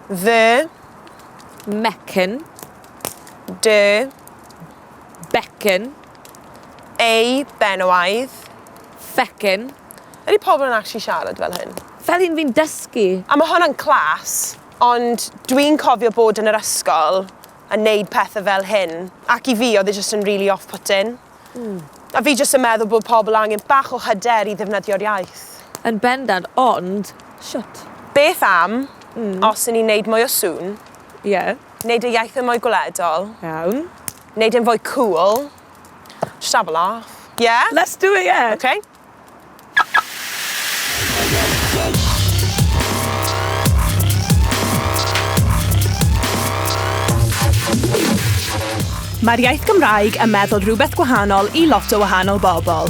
Dde. Mecyn. Dy. Becyn. Ei benywaidd. Fecyn. Ydy pobl yn actually siarad fel hyn? Fel un fi'n dysgu. A mae hwnna'n clas, ond dwi'n cofio bod yn yr ysgol yn neud pethau fel hyn, ac i fi oedd e just yn really off-putting. Mm. A fi jyst yn meddwl bod pobl angen bach o hyder i ddefnyddio'r iaith. Yn bendant, ond shwt? Beth am, mm. os yn ni'n neud mwy o sŵn? Ie. Yeah. Neud y iaith yn mwy gwledol. Iawn. Neud yn fwy cool. Just have a laugh. Yeah? Let's do it, yeah. Okay. Mae'r iaith Gymraeg yn meddwl rhywbeth gwahanol i lot o wahanol bobl.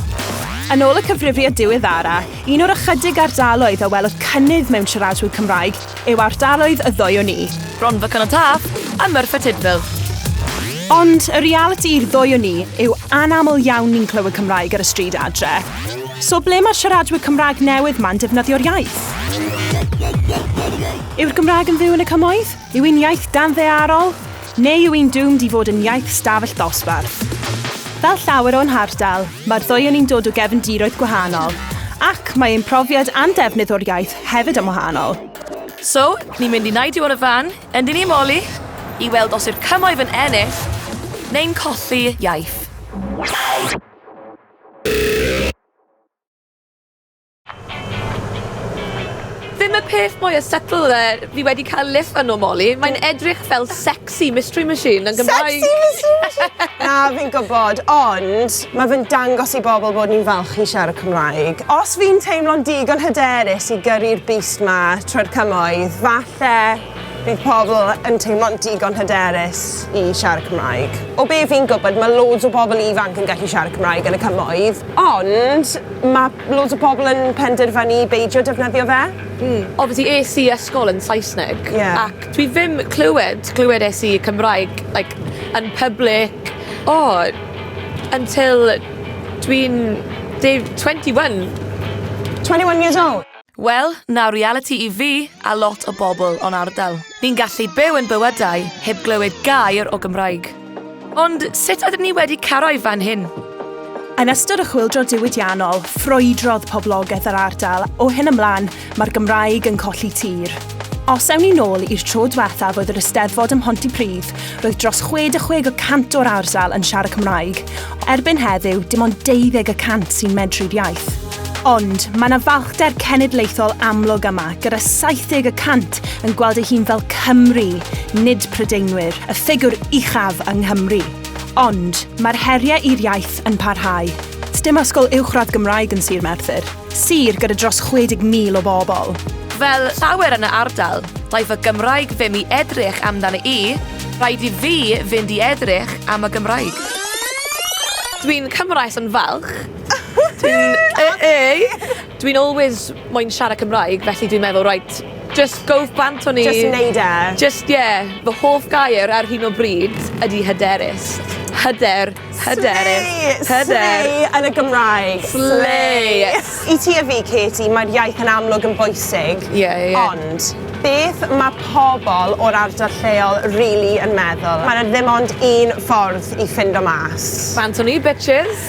Yn ôl y cyfrifiad diweddara, un o'r ychydig ardaloedd a welodd cynnydd mewn siaradwyr Cymraeg yw ardaloedd y ddwy o ni. Bronfa Canol Taf a Merthyr Tudful. Ond y realiti i'r ddwy o ni yw anaml iawn ni'n clywed Cymraeg ar y stryd adre. So ble mae'r siaradwyr Cymraeg newydd ma'n defnyddio'r iaith? Yw'r Gymraeg yn fyw yn y cymoedd? Yw hi'n iaith danddearol? Neu yw hi'n doomed i fod yn iaith stafell ddosbarth? Fel llawer o'n hardal, mae'r ddwy o ni'n dod o gefndiroedd gwahanol, ac mae ein profiad a'n defnydd o'r iaith hefyd yn wahanol. So, ni'n mynd i neidio ar y fan, yndyn ni, Molly? I weld os yw'r cymoedd yn ennill, neu'n colli iaith. Ddim y peth mwy settled fi wedi cael lift fan o Molly. Mae'n edrych fel sex Sexy mystery machine yn Gymraeg! Sexy mystery machine! Na, fi'n gwybod, ond mae fe'n dangos i bobl bod ni'n falch i siarad Cymraeg. Os fi'n teimlo'n digon hyderus i gyrru'r bust 'ma trwy'r cymoedd, falle bydd pobl yn teimlo'n digon hyderus i siarad Cymraeg. O be fi'n gwybod, mae loads o bobl ifanc yn gallu siarad Cymraeg yn y cymoedd, ond mae loads o bobl yn penderfynu beidio defnyddio fe. Mm. Obviously es i ysgol yn Saesneg. Ie. Ac Dwi ddim clywed, clywed es i Cymraeg like yn public o until dwi'n deu- twenty one. Twenty one years old? Wel, 'na realiti i fi a lot o bobl o'n ardal. Ni'n gallu byw ein bywydau heb glywed gair o Gymraeg. Ond sut ydym ni wedi cyrraedd fan hyn? Yn ystod y chwyldro diwydiannol, ffrwydrodd poblogaeth yr ardal, o hyn ymlaen, mae'r Gymraeg yn colli tir. Os ewn ni nôl i'r tro diwethaf oedd yr Eisteddfod ym Mhontypridd, roedd dros 66 y cant o'r ardal yn siarad Cymraeg. Erbyn heddiw, dim ond 12 y cant sy'n medru'r iaith. Ond, mae yna falchder cenedlaethol amlwg yma, gyda 70 y cant West yn gweld ei hun fel Cymry, nid Prydeinwyr, y ffigwr uchaf yng Nghymru. Ond, mae'r heriau i'r iaith yn parhau. Sdim ysgol uwchradd Gymraeg yn Sir Merthyr, sir gyda dros 60,000 o bobl. Fel llawer yn y ardal, daeth y Gymraeg ddim i edrych amdana i, rhaid i fi fynd i edrych am y Gymraeg. Dwi'n Cymraes yn falch. Dwi'n yy yy. Dwi'n always moyn siarad Cymraeg, felly dwi'n meddwl, right, just go bant o'n i. Just neud e. Just, ie. Yeah. Fy hoff gair ar hyn o bryd ydy hyderus. Hyder, hyderus, hyder. Slay yn y Gymraeg. Slay. I ti a fi, Katie, mae'r iaith yn amlwg yn bwysig. Ie, yeah, ie. Yeah. Ond, beth mae pobl o'r ardal lleol rili really yn meddwl? Mae yna ddim ond un ffordd i ffindo mas. Bant o'n i, bitches.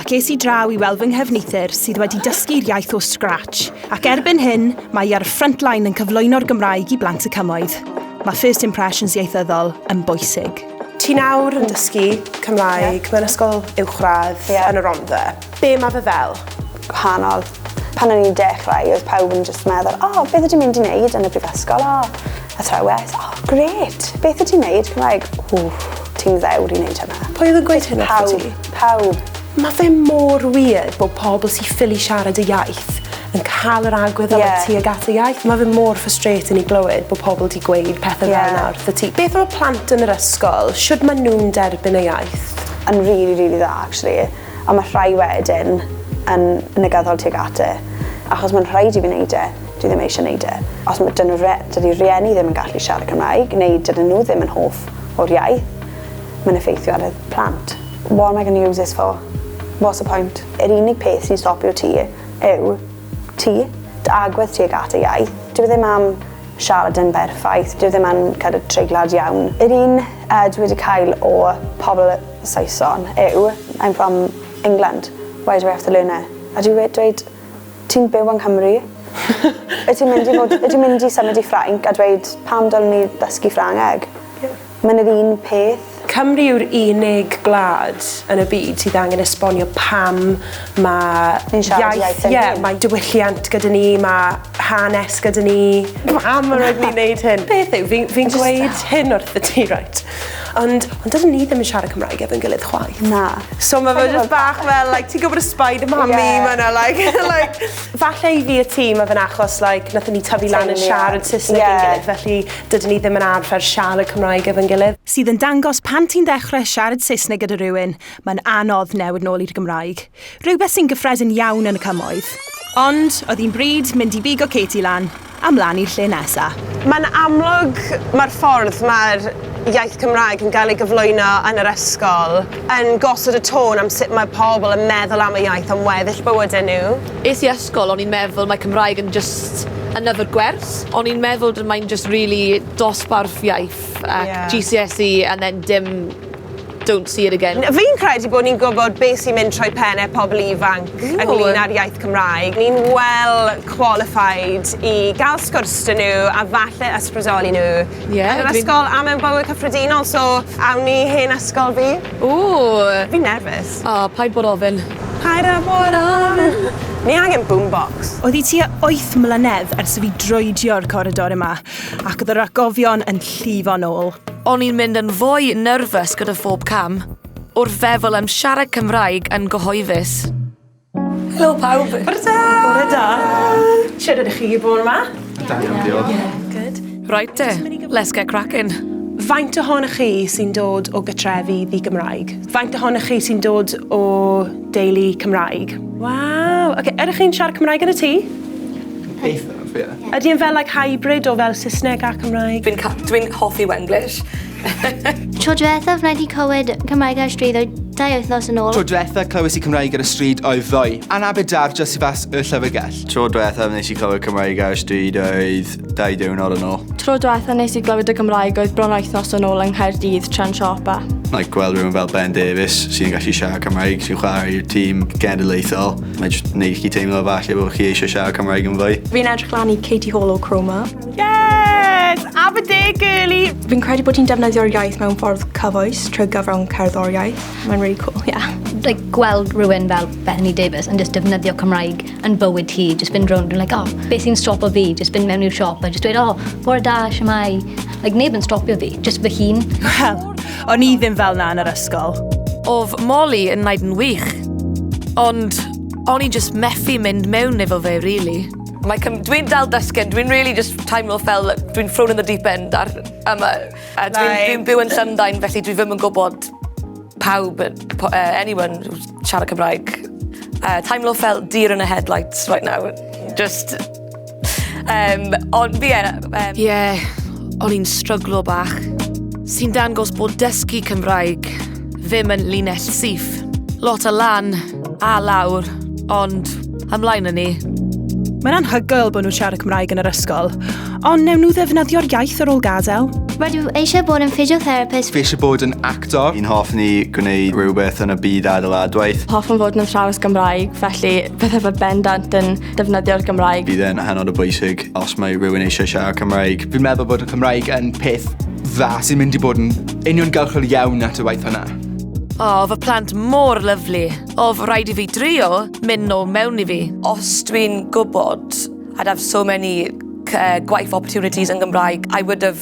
ac es i draw i weld fy nghefneithr sydd wedi dysgu'r iaith o scratch, ac erbyn hyn, mae hi ar y front line yn cyflwyno'r Gymraeg i blant y cymoedd. Mae first impressions ieithyddol yn bwysig. Ti nawr yn dysgu Cymraeg mewn ysgol uwchradd yn y Rhondda. Be mae fe fel? Gwahanol. Pan o'n i'n dechrau, oedd pawb yn jyst meddwl, 'O, beth ydyn mynd i wneud yn y brifysgol? O, Athrawes, oh great, beth y ti'n neud? Cymraeg, ww, ti'n ddewr i neud hynna. Pwy oedd yn gweud hynna wrth ti? Pawb, Mae fe mor weird bod pobl sy'n ffili siarad y iaith yn cael yr agwedd yeah. am y tuag at y iaith. Mae fe mor frustrating i glywed bod pobl wedi gweud pethau yeah. fel yna wrth y ti. Beth am y plant yn yr ysgol? Siwrd maen nhw'n derbyn y iaith? Yn really, really dda, actually. a mae rhai wedyn yn negaddol tuag at e, achos mae'n rhaid i fi wneud e, dwi ddim eisiau wneud e. Os mae dyn nhw, dydy rhieni ddim yn gallu siarad Cymraeg, neu dydyn nhw ddim yn hoff o'r iaith, mae'n effeithio ar y plant. What am I going to use this for? What's the point? Yr unig peth sy'n stopio ti yw ti, dy agwedd tuag at y iaith. Dwi e ddim am siarad yn berffaith, dwi e ddim yn kind of treiglad iawn. Yr un uh, dwi wedi cael o pobl Saeson yw I'm from England, why do I have to learn it? A dwi we- dweud Ti'n byw yng Nghymru. Wyt ti'n mynd i fod... Wyt ti'n mynd i symud i Ffrainc a dweud Pam dylen ni ddysgu Ffrangeg? Mae'n yr un peth. Cymru yw'r unig gwlad yn y byd sydd angen esbonio pam mae... Ni'n siarad iaith ein hun. Ie, mae diwylliant gyda ni, mae hanes gyda ni, pam yr oed ni'n neud hyn? Beth yw, fi'n fi gweud hyn wrth y ti, right? Ond, ond dydyn ni ddim yn siarad Cymraeg efo'n gilydd chwaith. Na. So mae fe just bach fel, like, ti'n gwybod y spider mami, yeah. mae yna, like, like... Falle i fi y ti, mae fe'n achos, like, nath ni tyfu lan yn siarad Saesneg yeah. yn gilydd, felly dydyn ni ddim yn arfer siarad Cymraeg efo'n gilydd. Sydd yn dangos pan ti'n dechrau siarad Saesneg gyda rhywun, mae'n anodd newid nôl i'r Gymraeg. Rhywbeth sy'n gyffredin iawn yn y cymoedd. Ond, oedd hi'n bryd mynd i bigo Katie lan a mlaen i'r lle nesa. Mae'n amlwg mae'r ffordd mae'r iaith Cymraeg yn gael ei gyflwyno yn yr ysgol yn gosod y tôn am sut mae pobl yn meddwl am y iaith am weddill bywydau nhw. Es i ysgol, o'n i'n meddwl mae Cymraeg yn jyst yn yfed gwers. O'n i'n meddwl d- mae'n jyst rili dosbarth iaith ac... Ie. ...GCSE and then dim Don't see it again. Fi'n credu bod ni'n gwybod beth sy'n mynd trwy pennau pobl ifanc ynglyn â'r iaith Cymraeg. Ni'n well qualified i gael sgwrs dyn nhw a falle ysbrydoli nhw. Ie, dwi'n... Yn yr ysgol a mewn bywyd cyffredinol, so awn ni i hen ysgol fi. Ww! Fi'n nerfus. O, paid bod ofyn. Paid â bod ofyn. Ni angen boombox. Oddi tua wyth mlynedd ers i fi droedio'r coridor yma. Ac oedd yr atgofion yn llifo'n ôl. O'n i'n mynd yn fwy nerfus gyda phob cam, wrth feddwl am siarad Cymraeg yn gyhoeddus. Helo pawb! Bore da! Bore da! Shwd ydych chi bore ma? Da iawn, diolch. Yeah, good. Right te, let's get cracking. Faint ohonoch chi sy'n dod o gytrefi ddi-Gymraeg? Faint ohonoch chi sy'n dod o deulu Cymraeg? Waw, ok, ydych chi'n siarad Cymraeg yn y tŷ? Eitha'. Ydy e'n fel like hybrid o fel Saesneg a Cymraeg? Fi'n ca- dwi'n hoffi Wenglish. Tro diwethaf wna i di clywed Cymraeg ar stryd oedd dau wythnos yn ôl. Tro diwethaf clywes i Cymraeg ar y stryd oedd ddoe. Anna Bedar, just i fas y llyfrgell. Tro diwethaf nes i clywed Cymraeg ar y stryd oedd dau diwrnod yn ôl. Tro diwethaf nes i glywed y Cymraeg oedd bron wythnos yn ôl yng Nghaerdydd tra'n siopa. Like gweld rhywun fel Ben Davies sy'n gallu siarad Cymraeg sy'n chwarae i'r tîm genedlaethol. Mae jyst neud i chi teimlo falle bo' chi eisiau siarad Cymraeg yn fwy. Fi'n edrych lan i Katie Hall o Chroma. Yes! Aberdare girly! Fi'n credu bod hi'n defnyddio'r iaith mewn ffordd cyfoes trwy gyfrwng cerddoriaeth. Mae'n really cool, ie. Yeah. Like, gweld rhywun fel Bethany Davis yn just defnyddio Cymraeg yn bywyd hi, just fynd rownd yn like, oh, beth sy'n stopo fi? Just fynd mewn i'r siop a just dweud, oh, bore da, siamai. Like, neb yn stopio fi, just fy hun. Wel, O'n i ddim fel na yn yr ysgol. Of Molly yn naid yn wych. Ond o'n i just methu mynd mewn efo fe, really. Mae cym... Dwi'n dal dysgen, dwi'n really just teimlo fel dwi'n thrown in the deep end ar yma. A dwi'n dwi dwi'n byw yn Llundain, felly dwi ddim yn gwybod pawb, uh, anyone siarad Cymraeg. Uh, teimlo fel deer in a headlights right now. Just Um, ond fi e... Um... Ie, yeah, o'n i'n stryglo bach. Sy'n dangos bod dysgu Cymraeg ddim yn linell syth. Lot o lan a lawr, ond ymlaen yn ni. Mae'n anhygoel bod nhw'n siarad Cymraeg yn yr ysgol, ond newn nhw ddefnyddio'r iaith ar ôl gadael. Rydw eisiau bod yn physiotherapist. Fi eisiau bod yn actor. Yn hoff ni gwneud rhywbeth yn y byd adeiladwaith. Hoffwn fod yn athrawes Gymraeg, felly bydde fy bendant yn defnyddio'r Gymraeg. Bydd e'n hynod o bwysig os mae rhywun eisiau siarad Cymraeg. Fi'n meddwl bod y Cymraeg yn peth dda sy'n mynd i bod yn uniongyrchol iawn at y waith hwnna. O, oh, fy plant mor lyflu. O, oh, fy rhaid i fi drio mynd nôl mewn i fi. Os dwi'n gwybod, I'd have so many uh, gwaith opportunities yn Gymraeg, I would have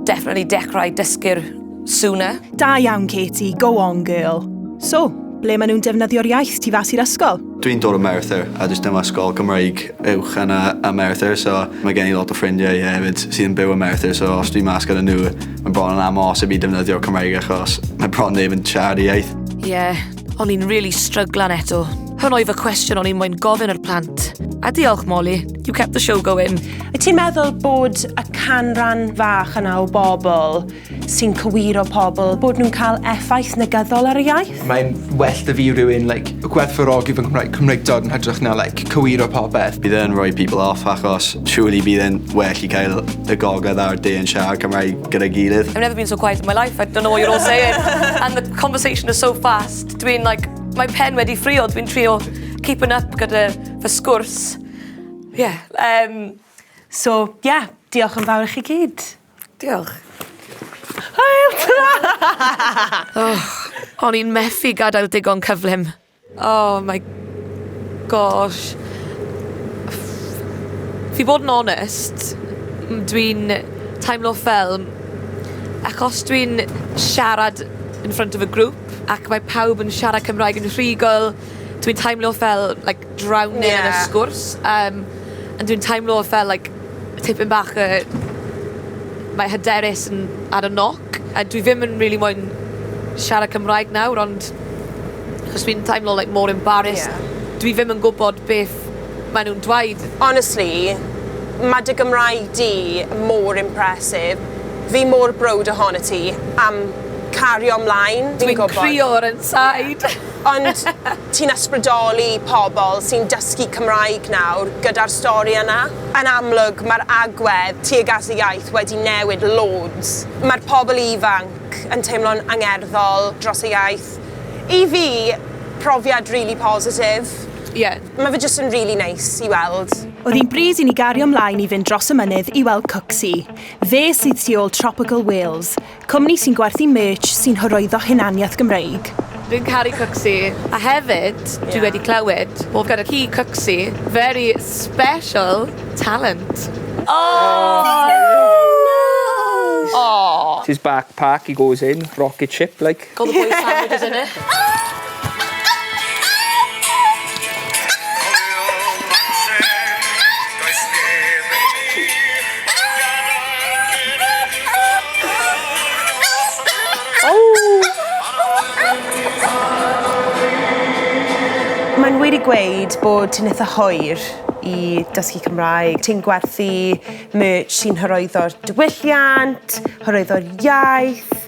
definitely dechrau dysgu'r sooner. Da iawn, Katie. Go on, girl. So, ble maen nhw'n defnyddio'r iaith tu fas i'r ysgol? Dwi'n dod o Merthyr a does dim ysgol Gymraeg uwch yn y, y Merthyr so mae gen i lot o ffrindiau hefyd sydd yn byw yn Merthyr so os dwi'n mas gyda nhw mae'n bron yn amhosib i defnyddio Cymraeg achos mae bron neb yn siarad y iaith. Ie, yeah, o'n i'n really stryglan eto. Hwn oedd y cwestiwn o'n i'n mwyn gofyn yr plant. A diolch Molly, you kept the show going. Ti'n meddwl bod y canran fach yna o bobl sy'n cywiro pobl bod nhw'n cael effaith negyddol ar y iaith. Mae'n well da fi rhywun like, gwerthfawrogi fy Nghymraeg, Cymreictod yn hytrach na like, cywiro popeth. Bydd e'n rhoi people off achos surely bydd e'n well i cael y gogledd a'r de yn siarad Cymraeg gyda'i gilydd. I've never been so quiet in my life, I don't know what you're all saying. And the conversation is so fast, dwi'n like, mae pen wedi ffrio, dwi'n trio keeping up gyda fy sgwrs. Yeah, um, so yeah, diolch yn fawr i chi gyd. Diolch. Hwyl! Tara! O'n i'n methu gadael digon cyflym. Oh my gosh. Fi bod yn onest, dwi'n teimlo fel achos dwi'n siarad in front of a group ac mae pawb yn siarad Cymraeg yn rhugl, dwi'n teimlo fel like drowning yeah. yn y sgwrs. Um, and dwi'n teimlo fel like Tipyn bach y... Mae hyderus yn ar y noc, a dwi ddim yn rili moyn siarad Cymraeg nawr, ond... Achos fi'n teimlo like more embarrassed. Ie. Dwi ddim yn gwybod beth mae nhw'n dweud. Honestly, mae dy Gymraeg di mor impressive. Fi mor browd ohonot ti am cario mlaen. Dwi'n gwybod. Dwi'n crio ar 'yn side. Ond ti'n ysbrydoli pobl sy'n dysgu Cymraeg nawr gyda'r stori yna. Yn amlwg, mae'r agwedd tuag at y iaith wedi newid loads. Mae'r pobl ifanc yn teimlo'n angerddol dros y iaith. I fi, profiad rili positif. Ie. Mae fe jyst yn rili neis i weld. Oedd hi'n bryd i ni gario 'mlaen i fynd dros y mynydd i weld Cooksey. Fe sydd tu ôl Tropical Wales. Cwmni sy'n gwerthu merch sy'n hyrwyddo hunaniaeth Gymreig. Dwi'n caru Cwcsi, a hefyd dwi wedi clywed bod gyda chi Cwcsi, very special talent. Aww! Aww! His backpack he goes in, rocket ship like. Call the boys family for dinner. Mae'n wir i gweud bod ti'n eitha hoer i dysgu Cymraeg. Ti'n gwerthu merch sy'n hyrwyddo'r diwylliant, hyrwyddo'r iaith.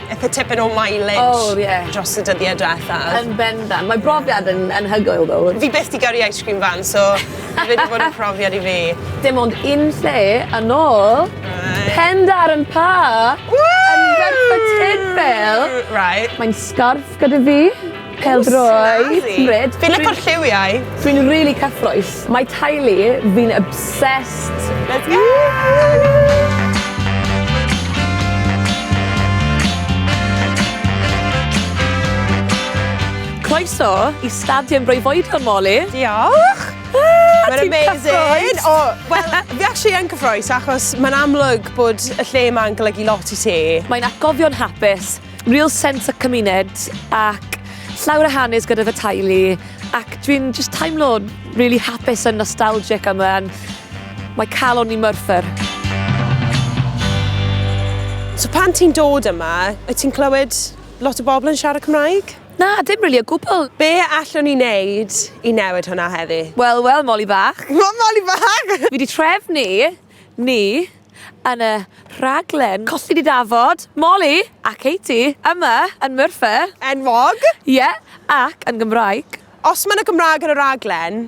Eitha tipyn o mileage... O ie. ...dros y dyddie dwethaf. Yn bendant. Mae brofiad yn anhygoel ddo. Fi byth 'di gyrru ice cream van so ma' fe 'di bod yn profiad i fi. Dim ond un lle yn ôl. Reit. Pendarn Pa! Ww! Yn Merthyr Tydfil. Reit. Mae'n sgarff gyda fi. Pêl-droed. Reit. Fi'n licio'r lliwiau. Dwi'n rili cyffrous. Mae teulu fi'n obsessed. Let's go! Croeso i Stadiwm Breufoedion, Molly. Diolch! Ah, ti'n cyffrous! O, wel, fi actually yn cyffrous achos mae'n amlwg bod y lle yma'n golygu lot i ti. Mae'n atgofion hapus. Real sense y cymuned ac llawer o hanes gyda fy teulu ac dwi'n just teimlo really hapus and nostalgic am yna. E, mae calon ni myrthyr. So pan ti'n dod yma, wyt ti'n clywed lot o bobl yn siarad Cymraeg? Na, dim really o gwbl. Be allwn ni wneud i newid hwnna heddi? Wel, wel, Molly Bach. Wel, Molly Bach! Fi wedi trefnu Ni, yn y rhaglen Cosyn i Dafod, Molly a Katie, yma yn Merthyr. Enwog! Ie, ac yn Gymraeg. Os mae 'na Gymraeg yn y rhaglen,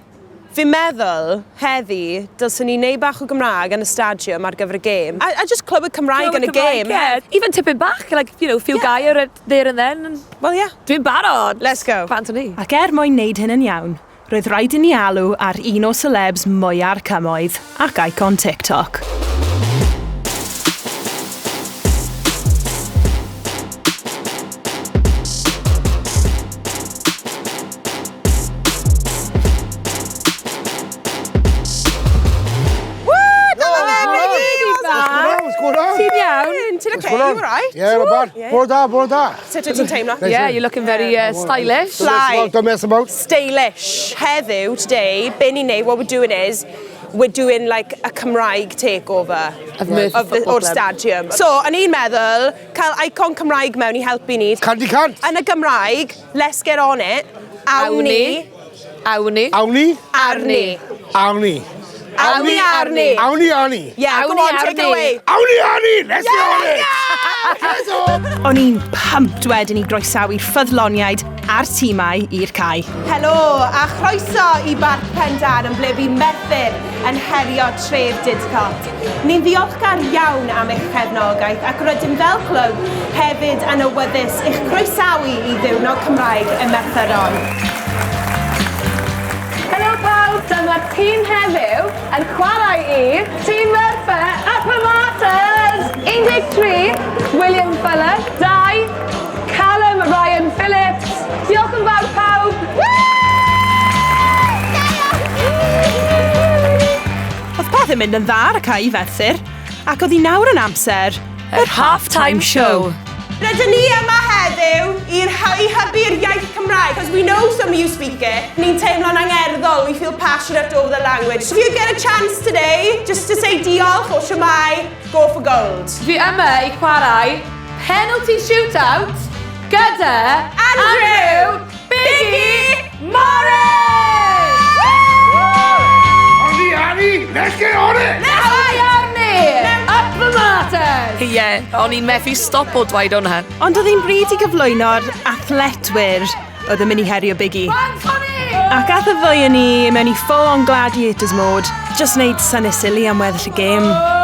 fi'n meddwl, heddi, dylsen ni neud bach o Gymraeg yn y stadiwm ar gyfer y gêm. A a jyst clywed Cymraeg yn y gêm. Even tipyn bach, like, you know, few gair there and then. Wel, ie. Dwi'n barod! Let's go. Bant o ni. Ac er mwyn neud hyn yn iawn, Roedd rhaid i ni alw ar un o selebs mwya'r cymoedd ac icon TikTok. Ti'n iawn? Ti'n oce? You alright? Ie, not bad. Bore da, bore da. Sut wyt ti'n teimlo? Neis, Yeah, ie? you're looking very uh, stylish. Don't mess about, don't mess about. Stylish. Heddiw, today, be ni'n neud, what we're doing is, we're doing like a Cymraeg takeover Of Merthyr of the, Football o'r Club. stadium. So, o'n i'n meddwl, cael icon Cymraeg mewn i helpu ni. Candy cant! Yn y Gymraeg, let's get on it. Awn Awn ni. ni. Awni. Awni. Arni. Awni. Awni arni. Awni arni. Yeah, Awni go on, take it away. Awni arni! Let's yeah, go on it! Let's go! O'n i'n pumped wedyn i groesawu'r ffyddloniaid a'r tîmau i'r cae. Helo, a chroeso i Barc Pendan yn ble fi methyr yn herio tref Didcot. Ni'n ddiolchgar iawn am eich cefnogaeth ac rydym fel clwb hefyd yn awyddus i'ch croesawu i Ddiwrnod Cymraeg y Merthyron. Helo pawb, dyma'r tîm heddiw yn chwarae i Tîm Merthyr y Promoters! 13, William Fuller, 2, Callum Ryan Phillips, Diolch yn fawr pawb! Woo! Joio! Woo! Oedd pethau'n mynd yn dda ar y cae i Ferthyr, ac oedd hi nawr yn amser yr half-time show. Rydyn ni yma heddiw i i hybu'r iaith Cymraeg, because we know some of you speak it. Ni'n teimlo'n angerddol, we feel passionate over the language. So if you get a chance today, just to say diolch or shwmae, go for gold. Fi yma i chwarae penalty shootout gyda Andrew! Biggie Morris! Ond i Annie, let's get on it! Nawr i Arnie! Up the martyrs! Ie, o'n i'n methu stop o dweud hwnna. Ond oedd hi'n bryd i gyflwyno'r athletwyr oedd yn mynd i herio Biggie. Ac ath y ddwy yn ni mewn i full on gladiators mode, just wneud syni silly am weddill y gêm. Oh!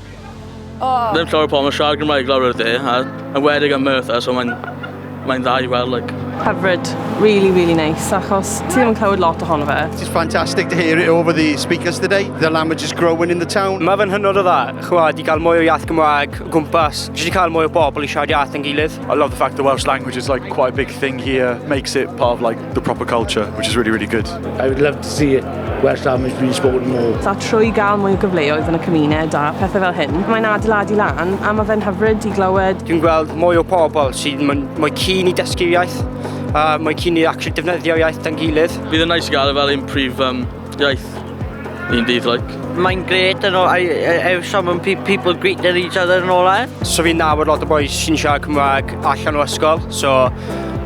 Oh. Ddim llawer o pobl yn siarad Gymraeg lawr o'r dde, a yn wedig yn Merthyr, so mae'n mae dda i weld, like. Hyfryd, really, really nice, achos ti ddim yn clywed lot ohono fe. It's fantastic to hear it over the speakers today. The language is growing in the town. Mae fe'n hynod o dda, chwa, di cael mwy o iaith Gymraeg o gwmpas, jyst i cael mwy o bobl i siarad iaith yn gilydd. I love the fact the Welsh language is like quite a big thing here, makes it part of like the proper culture, which is really, really good. I would love to see Welsh language being spoken more. A trwy gael mwy o gyfleoedd yn y cymuned a pethau fel hyn, mae'n adeiladu lan a mae fe'n hyfryd i glywed. Dwi'n gweld mwy o pobl sy'n mwy cyn i dysgu'r iaith a mwy cyn i actually defnyddio'r iaith dan gilydd. Bydd yn nice i gael e fel un prif um, Iaith. Ni'n dydd, like. Mae'n gret yn ôl, I, I, I some pe people greeting each other yn ôl air. So fi'n nabod lot o boys sy'n siarad Cymraeg allan o ysgol, so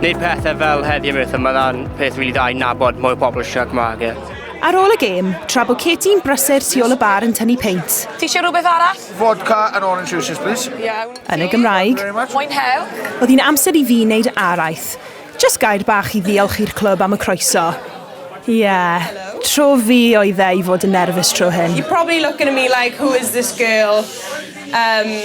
neud pethau fel heddi am eithaf, mae'n peth rili really dda i nabod mwy o bobl sy'n siarad Cymraeg. Yeah. Ar ôl y gêm, tra bod Katie'n brysur tu ôl y bar yn tynnu peint. Ti eisiau rhywbeth arall? Vodka and orange juices, please. Iawn. Yn y Gymraeg. Mwynhewch. Oedd hi'n amser i fi wneud araith. Jyst gair bach i ddiolch i'r clwb am y croeso. Ie, tro fi oedd e i fod yn nerfus tro hyn. You're probably looking at me like who is this girl? Umm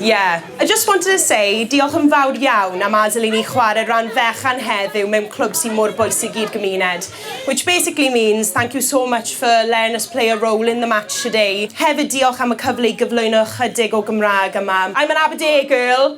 ie. I just wanted to say diolch yn fawr iawn am adael i ni chwarae ran fechan heddiw mewn clwb sy'n mor bwysig i'r gymuned. Which basically means thank you so much for letting us play a role in the match today. Hefyd diolch am y cyfle i gyflwyno ychydig o Gymraeg yma. I'm an Aberdare girl.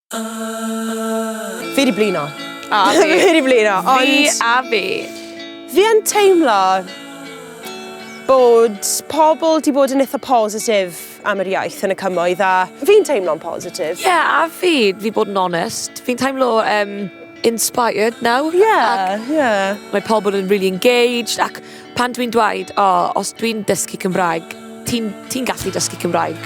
Fi di blino. A fi. fi di blino, ond... Fi a fi. Fi yn teimlo bod pobl di bod yn eitha positif am yr iaith yn y cymoedd a fi'n teimlo'n positif. Ie, yeah, a fi, fi bod yn onest. Fi'n teimlo um, inspired nawr. Ie, yeah, ie. Yeah. Mae pobl yn really engaged ac Pan dwi'n dweud, o, os dwi'n dysgu Cymraeg, ti'n ti gallu dysgu Cymraeg?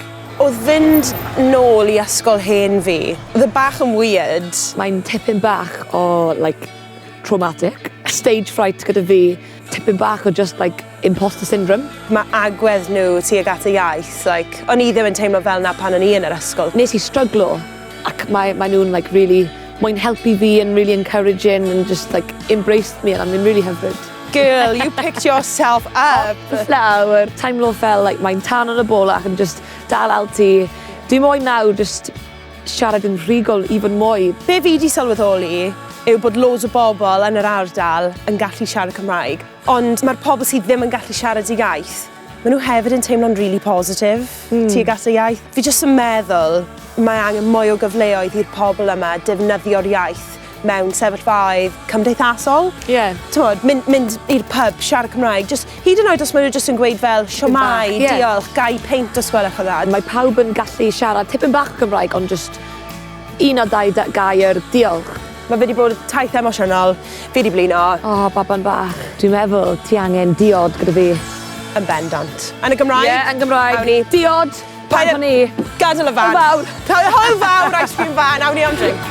Oedd fynd nôl i ysgol hen fi, oedd e bach yn weird. Mae'n tipyn bach o, like, traumatic. Stage fright gyda fi, tipyn bach o just like imposter syndrome. Mae agwedd nhw tuag at y iaith, like, o'n i ddim yn teimlo fel 'na pan o'n i yn yr ysgol. Nes i stryglo ac mae mae nhw'n like rili moyn helpu fi and rili encouraging and just like embraced me and I'm yn rili hyfryd. Girl, you picked yourself up. Nawr, teimlo fel like mae'n tan yn y bol ac yn jyst dal al ti. Dwi moyn nawr jyst siarad yn rhugol i fod mwy. Be fi di sylweddoli yw bod loads o bobl yn yr ardal yn gallu siarad Cymraeg, ond mae'r pobl sydd ddim yn gallu siarad y iaith, Maen nhw hefyd yn teimlo'n really positif mm. tuag at y iaith. Fi jyst yn meddwl mae angen mwy o gyfleoedd i'r pobl yma defnyddio'r iaith mewn sefyllfaoedd cymdeithasol. Ie. Yeah. Tywod, mynd, mynd i'r pub, siarad Cymraeg, just, hyd yn oed os maen nhw jyst yn gweud fel, siomai, yeah. diolch, gai peint os gwelwch o dda. Mae pawb yn gallu siarad tipyn bach Cymraeg, ond just un o dau gair, diolch. Mae fe wedi bod taith emosiynol, fi wedi blino. O, oh, baban bach. Dwi'n meddwl, ti angen diod gyda fi. Yn bendant. Yn y Gymraeg? Ie, yeah, yn Gymraeg. Awn ni. Diod, pan o'n ni. Gadal y fan. Hwyl fawr. Hwyl fawr, ice cream fan. Awn ni am drink.